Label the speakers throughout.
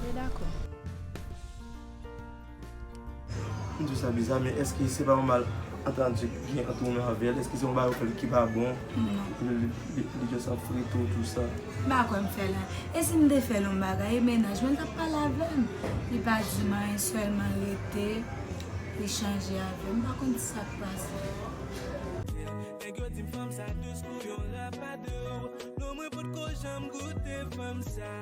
Speaker 1: Mwen
Speaker 2: dakò.
Speaker 1: M di w sa biza men eske se pa yon mal antandi ki gen ant ou menm avè l? Eske se yon bagay ou fè l ki pa bon? Non. Li just ap frite w tout sa. M pa kwè m fè l.
Speaker 3: E si m te fè l yon bagay e mennaj mwen t ap pale avè m? Li pa di m anyen sèlman l rete li chanje avè m. M pa konn ki sa k pase.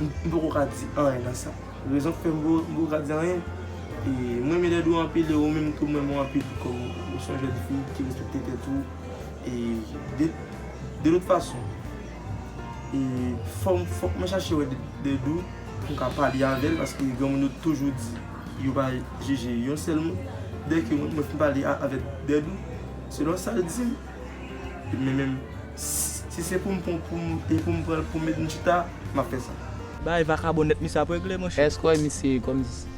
Speaker 1: M poko ka di anyen nan sa. Rezon ki fè m poko ka di anyen, m renmen lèd ou anpil e ou menm tou m renmen w anpil kòm ou se yon jèn fi ki respekte tèt ou e de lòt fason e fòk mwen chache wè lèd ou pou m ka pale avè l paske granmoun yo toujou di yo pa jije yon sèl moun dèke mwen fin pale avèk lèd ou selon sa l di m. Men menm si se poum pran poum e poum pranl poum met yn chita map fè sa. Bay vakabon nèt
Speaker 4: misye ap regle monchè. Èske w wè misye kòm si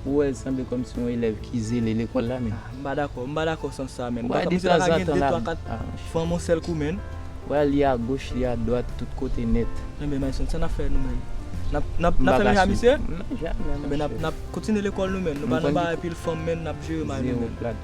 Speaker 5: ou wè l sanble kòm si yon elèv ki zele lekòl la menn? Ah m pa dakò, m pa dakò
Speaker 4: sans sa menn. Wè de tanzantan
Speaker 5: l
Speaker 4: ap Fanm yon sèl kou menn. Wè a li agoch
Speaker 5: li adwat tout kote nèt. Enben Myson sa nap fè
Speaker 4: nou menn? Nap fè menm jan a misye? Jamè monchè. Enben
Speaker 5: nap kontinye
Speaker 4: lekòl nou menn. Nou pa nan bagay pil fanm menn nap jere may nou menn.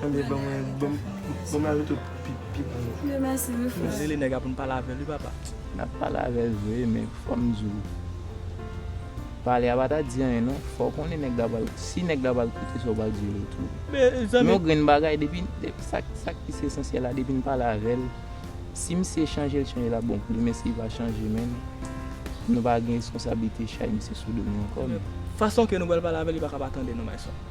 Speaker 3: Tande ban
Speaker 1: mwen ban mwen lave tou pi bon. Dieu merci wi frère.
Speaker 3: Rele nèg a poun pale avèl
Speaker 4: wi papa. Nap pale avèl
Speaker 5: vre men fòm diw pale a pa ta di anyen non fòw konnen nèg la pral si nèg la pral koute sa ou pral di yo tou men yon grenn
Speaker 4: bagay depi
Speaker 5: sak plis esansyèl la depin pale avèl si misye chanjel chanjel ap bon pou li men sil pa chanje menm nou pa gen reskonsablite chay misye sou do nou ankò men. Fason ke nou pral
Speaker 4: pale avèl li paka pa tande nou my son.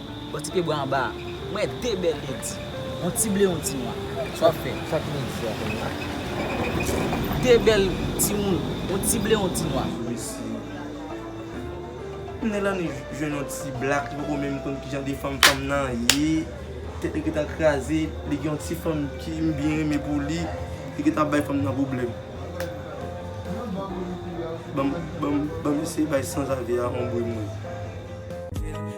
Speaker 6: Bon ti pye bwa anba a. M wè 2 bèl ledi. Yon ti ble yon ti nwa. Sa wap fè? Sa ki midi a kounye a? 2 bèl timoun. Yon ti ble yon ti nwa. Mesi. Knnen
Speaker 1: Lani jwenn yon ti black li poko menm konn kijan de fanm fanm nan ye. Tèt li gentan kraze. Li gen yon ti fanm ki m byen renmen pou li. Li gentan ap bay fanm nan pwoblèm. Banm eseye bay sanzave a yon bri m wè.